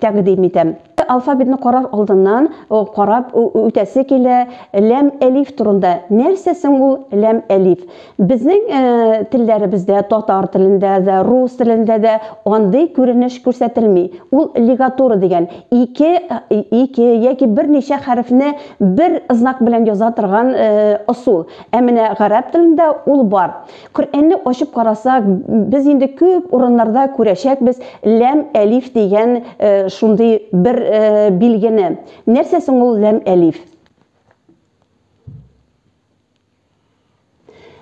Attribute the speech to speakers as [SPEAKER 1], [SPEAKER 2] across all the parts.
[SPEAKER 1] тәкъдим итәм. Алфавитны карар алдыннан карап үтәсе килә, ләм-әлиф турында. Нәрсә соң ул ләм-әлиф? Безнең телләребездә, татар телендә дә, рус телендә дә андый күренеш күрсәтелми. Ул лигатура дигән, ике, ике яки берничә хәрефне бер знак белән яза торган ысул. Ә менә гарәп телендә ул бар. Коръәнне ачып карасак, без инде күп урыннарда күрәчәкбез ләм, әлиф дигән шундый бер билгене. Нәрсә соң ул ләм, әлиф?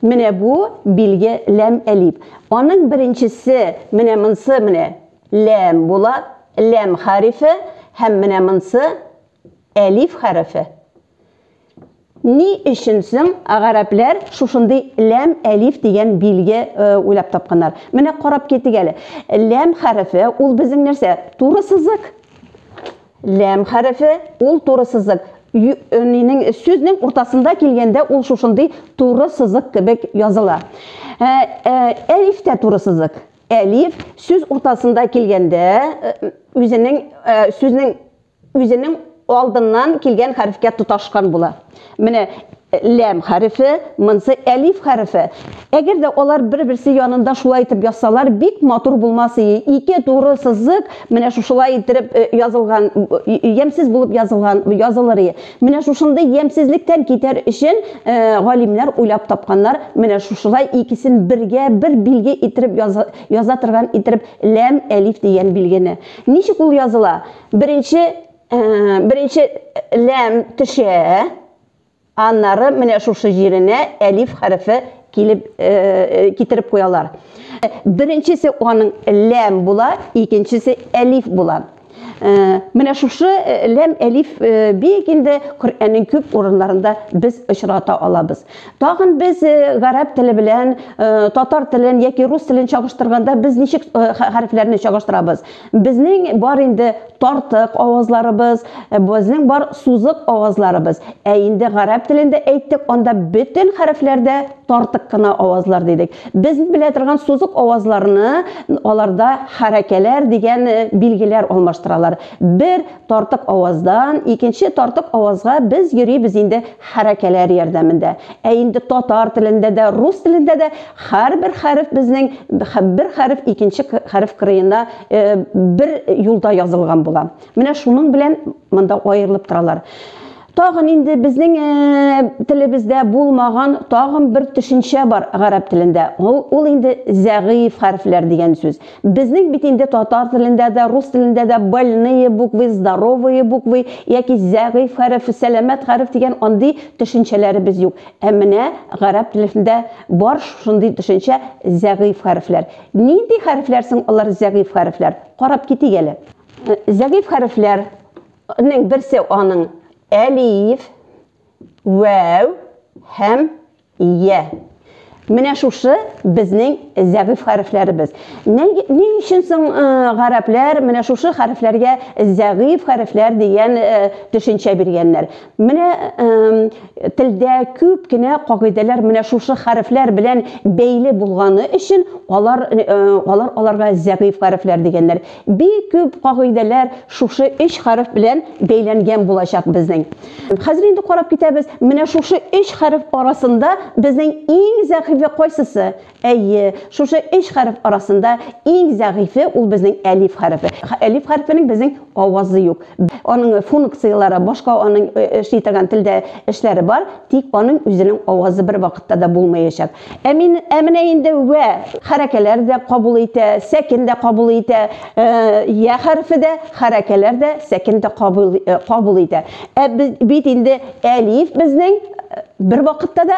[SPEAKER 1] Менә бу билге ләм, әлиф. Аның беренчесе, менә монсы, менә ләм була, ләм хәрефе һәм менә монсы әлиф хәрефе. Ни өчен соң гарәпләр шушындый ләм-әлиф дигән билге уйлап тапканнар? Менә карап китик әле. Ләм хәрефе, ул безнең нәрсә? Туры сызык. Ләм хәрефе, ул туры сызык. Нинең сүзнең уртасында килгәндә ул шушындый туры сызык кебек языла. Әлиф тә туры сызык. Әлиф сүз уртасында килгәндә, үзенең сүзнең үзенең алдыннан килгән хәрефкә тоташкан була. Менә ләм хәрефе, монсы әлиф хәрефе. Әгәр дә алар бер-берсе янында шулай итеп язсалар, бик матур булмас ие. Ике туры сызык менә шушылай итеп э, язылган, ямьсез булып язылган, язылыр ие. Менә шушындый ямьсезлектән китәр өчен э, галимнәр уйлап тапканнар, менә шушылай икесен бергә бер билге итеп яза торган итеп ләм әлиф дигән билгене. Ничек ул языла? Беренче, ә, беренче ләм төшә, аннары менә шушы җиренә әлиф хәрефе килеп э, китереп куялар. Беренчесе аның ләм була, икенчесе әлиф була. Э, менә шушы э, ләм әлиф э, бик инде Коръәннең күп урыннарында без очрата алабыз. Тагын без гарәп теле белән татар телен яки рус телен чагыштырганда без ничек хәрефләрне чагыштырабыз? Безнең бар инде тартык авазларыбыз, безнең бар сузык авазларыбыз. Ә инде гарәп телендә әйттек, анда бөтен хәрефләр дә тартык кына авазлар дидек. Без белә торган сузык авазларны аларда хәрәкәләр дигән билгеләр алмаштыралар. Бер Тартык аваздан икенче тартык авазга без йөрибез инде хәрәкәләр ярдәмендә. Ә инде татар телендә дә, рус телендә дә һәрбер хәреф безнең бер хәреф икенче хәреф кырыена бер юлда язылган була. Менә шуның белән монда аерылып торалар. Тагын инде безнең телебездә булмаган тагын бер төшенчә бар гарәп телендә. Ул, ул инде зәгыйф хәрефләр дигән сүз. Безнең бит инде татар телендә дә, рус телендә дә больные буквы, здоровые буквы яки зәгыйф хәреф, сәламәт хәреф дигән андый төшенчәләребез юк. Ә менә гарәп телендә бар шундый төшенчә зәгыйф хәрефләр. Нинди хәрефләр соң алар зәгыйф хәрефләр? Карап китик әле. Зәгыйф хәрефләр Ның берсе аның әлиф, вәү һәм я. Менә шушы безнең зәгыйф хәрефләребез. Ни өчен соң гарәпләр менә шушы хәрефләргә зәгыйф хәрефләр дигән төшенчә биргәннәр? Менә телдә күп кенә кагыйдәләр менә шушы хәрефләр белән бәйле булганы өчен алар алар аларга зәгыйфь хәрефләр дигәннәр. Бик күп кагыйдәләр шушы өч хәреф белән бәйләнгән булачак безнең. Хәзер инде карап китәбез, менә шушы өч хәреф арасында безнең иң зәгыйфе кайсысы? Әйе, шушы өч хәреф арасында иң зәгыйфе ул безнең әлиф хәрефе. Әлиф хәрефенең безнең авазы юк. Аның функцияләре башка, аның эшли торган телдә эшләре бар, тик аның үзенең авазы бервакытта да булмаячак. Ә мин, ә менә инде вә хәрәкәләр дә кабул итә, сәкен дә кабул итә, я хәрефе дә, хәрәкәләр дә, сәкен дә кабул итә. Ә бит инде әлиф безнең бервакытта да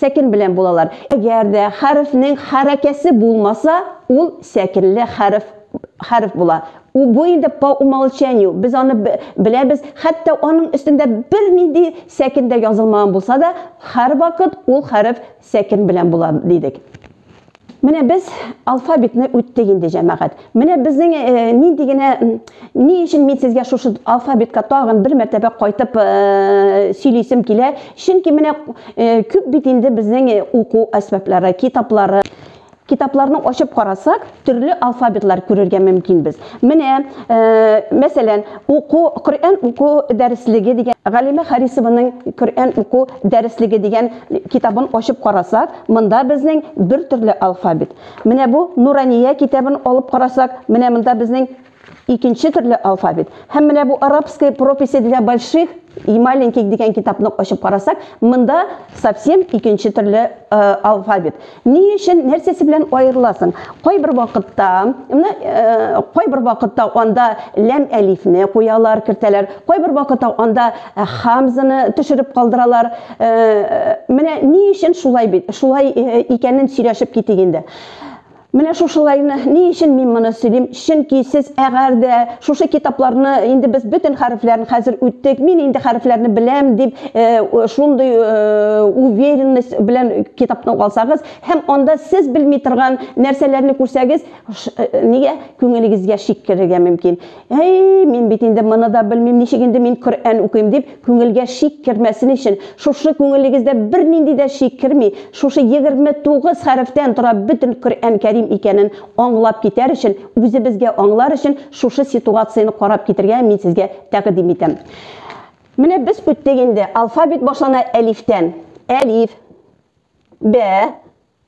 [SPEAKER 1] Сәкен белән булалар. Әгәр дә хәрефнең хәрәкәсе булмаса, ул сәкенле хәреф хәреф була. У бу инде по умолчанию. Без аны беләбез. Хәтта аның өстендә бернинди сәкен дә язылмаган булса да, һәрвакыт ул хәреф сәкен белән була дидек. Менә без алфавитны үттек инде, җәмәгать. Менә безнең э, нинди генә ни өчен мин сезгә шушы алфавитка тагын бер мәртәбә кайтып э, сөйлисем килә. Чөнки менә э, күп бит инде безнең уку әсбаплары, китаплары. Китапларны ачып карасак, төрле алфавитлар күрергә мөмкинбез. Менә, мәсәлән, уку, Коръән уку дәреслеге дигән, Галимә Харисованың Коръән уку дәреслеге дигән китабын ачып карасак, монда безнең бер төрле алфавит. Менә бу Нурания китабын алып карасак, менә монда безнең икенче төрле алфавит. Һәм менә бу Арабская прописи для больших и маленьких дигән китапны ачып карасак, монда совсем икенче төрле алфавит. Ни өчен, нәрсәсе белән аерыласың? Кайбер вакытта, менә кайбер вакытта анда ләм-әлифне куялар, кертәләр, кайбер вакытта анда хамзаны төшереп калдыралар. Менә ни өчен шулай бит? Шулай икәнен сөйләшеп китик инде. Менә шушылайны ни өчен мин моны сөйлим? Чөнки сез әгәр дә шушы китапларны, инде без бөтен хәрефләрен хәзер үттек, мин инде хәрефләрне беләм дип, шундый уверенность белән китапны алсагыз һәм анда сез белми торган нәрсәләрне күрсәгез, нигә күңелегезгә шик керергә мөмкин. Әй, мин бит инде моны да белмим, ничек инде мин Коръән укыйм дип, Күңелгә шик кермәсен өчен, шушы күңелегездә бернинди дә шик керми, шушы 29 хәрефтән тора бөтен Коръән Кәрим икәнен аңлап китәр өчен, үзебезгә аңлар өчен шушы ситуацияне карап китергә мин сезгә тәкъдим итәм. Менә без үттек инде, алфавит башлана әлифтән. Әлиф. Бә.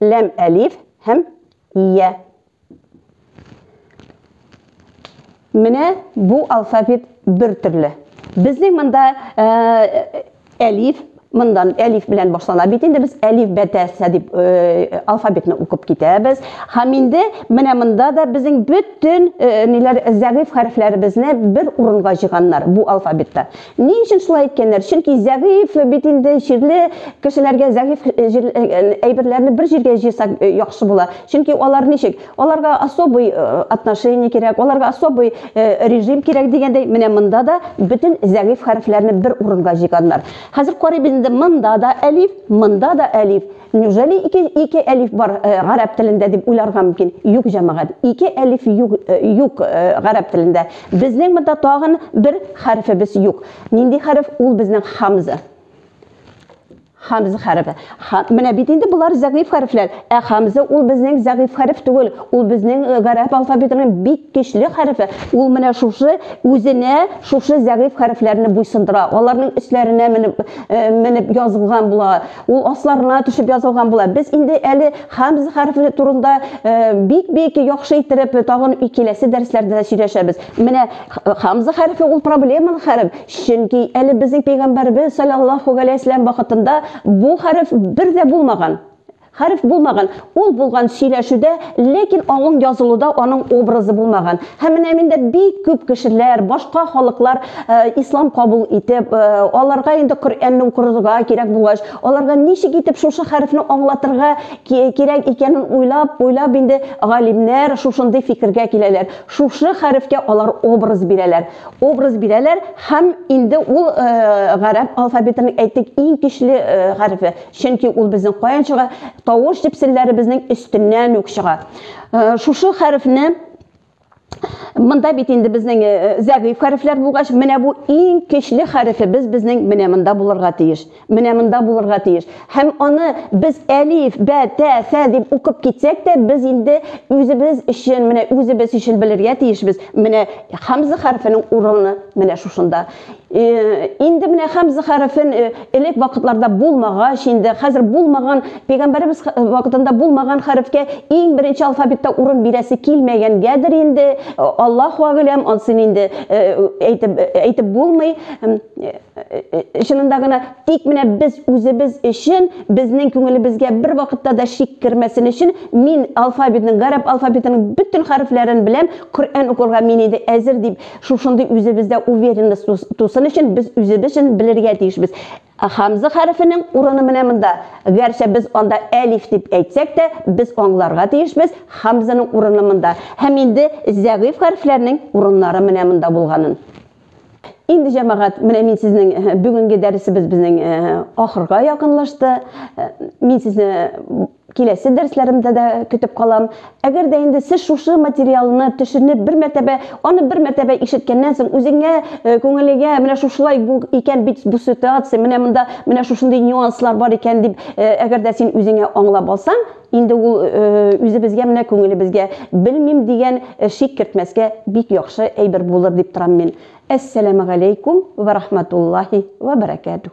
[SPEAKER 1] ләм әлиф һәм ия. Менә бу алфавит бер төрле. Безнең монда э, әлиф, мондан әлиф белән башлана бит инде без әлиф бәтәсә дип э, алфавитны укып китәбез. Һәм инде менә монда да безнең бөтен э, ниләр зәгыйфь хәрефләребезне бер урынга җыйганнар бу алфавитта. Ни өчен шулай әйткәннәр? Чөнки зәгыйфь бит инде җирле кешеләргә зәгыйфь әйберләрне бер җиргә җыйсак яхшы була. Чөнки алар ничек? Аларга особый отношение кирәк, аларга особый режим кирәк дигәндәй, менә монда да бөтен зәгыйфь хәрефләрне бер урынга җыйганнар. Хәзер карыйбыз инде, монда да әлиф, монда да әлиф. Неужели ике, ике әлиф бар э, гарәп телендә дип уйларга мөмкин? Юк, җәмәгать. Ике әлиф юк, э, юк э, гарәп телендә. Безнең монда тагын бер хәрефебез юк. Нинди хәреф? Ул безнең хамза. Хамза хәрефе. Ха, менә бит инде булар зәгыйф хәрефләр. Ә хамза ул безнең зәгыйф хәреф түгел. Ул безнең э, гарәп алфавитының бик көчле хәрефе. Ул менә шушы үзенә шушы зәгыйф хәрефләрне буйсындыра. Аларның өсләренә менеп, э, менеп язылган була. Ул асларына төшеп язылган була. Без инде әле хамз хәрефе турында бик-бик яхшы иттереп тагын киләсе дәресләрдә дә сөйләшәбез. Менә хамз хәрефе ул проблемалы хәреф, чөнки әле безнең пәйгамбәрбез саллаллаху галәйһи вәсәлләм вакытында бу хәреф бер дә булмаган. Хәреф булмаган. Ул булган сөйләшүдә, ләкин аңың язылуда аның образы булмаган. Һәм менә миндә бик күп кешеләр, башка халыклар э, ислам кабул итеп, э, аларга инде Коръәнне укырга кирәк булгач, аларга ничек итеп шушы хәрефне аңлатырга кирәк икәнен уйлап, уйлап инде галимнәр шушындый фикергә киләләр. Шушы хәрефкә алар образ бирәләр. Образ бирәләр һәм инде ул э, гарәп алфавитының әйтик иң көчле хәрефе. Чөнки ул безнең каян чыга? Тавыш җепселләребезнең өстеннән үк чыга. Э, шушы хәрефне Монда бит инде безнең э, зәгыйф хәрефләр булгач, менә бу иң көчле хәрефебез безнең менә монда булырга тиеш. Менә монда булырга тиеш. Һәм аны без әлиф, бә, тә, сә дип укып китсәк тә, без инде үзебез өчен, менә үзебез өчен белергә тиешбез. Менә хамза хәрефенең урыны менә шушында. инде менә хәмзә хәрефен элек вакытларда булмагач инде хәзер булмаган пәйгамбәребез вакытында булмаган хәрефкә иң беренче алфавитта урын бирәсе килмәгәнгәдер инде аллаһу әгъләм ансын инде әйтеп әйтеп булмый чынында гына тик менә без үзебез өчен безнең күңелебезгә бер вакытта да шик кермәсен өчен мин алфавитның гарәп алфавитының бөтен хәрефләрен беләм коръән укырга мин инде әзер дип Шушындый үзебездә уверенность тусын өчен без үзебез өчен белергә тиешбез. Хамза хәрефенең урыны менә монда. Гәрчә без анда әлиф дип әйтсәк тә, без аңларга тиешбез, хамзаның урыны монда. Һәм инде зәгыйфь хәрефләрнең урыннары менә монда булганын. Инде җәмәгать, менә мин сезнең э, бүгенге дәресебез безнең э, ахырга якынлашты. Э, мин сезне Киләсе дәрсләремдә дә көтеп калам. Әгәр дә инде сез шушы материалны төшенеп, бер мәртәбә, аны бер мәртәбә ишеткәннән соң, үзеңә, э, күңелегә менә шушылай бу икән бит бу ситуация, менә монда менә шушындый нюанслар бар икән дип, э, әгәр дә син үзеңә аңлап алсаң, инде ул э, үзебезгә менә күңелебезгә белмим дигән э, шик кертмәскә бик яхшы әйбер булыр дип торам мин. Әссәламәгаләйкүм вә рахматуллаһи вә бәрәкәтүһ.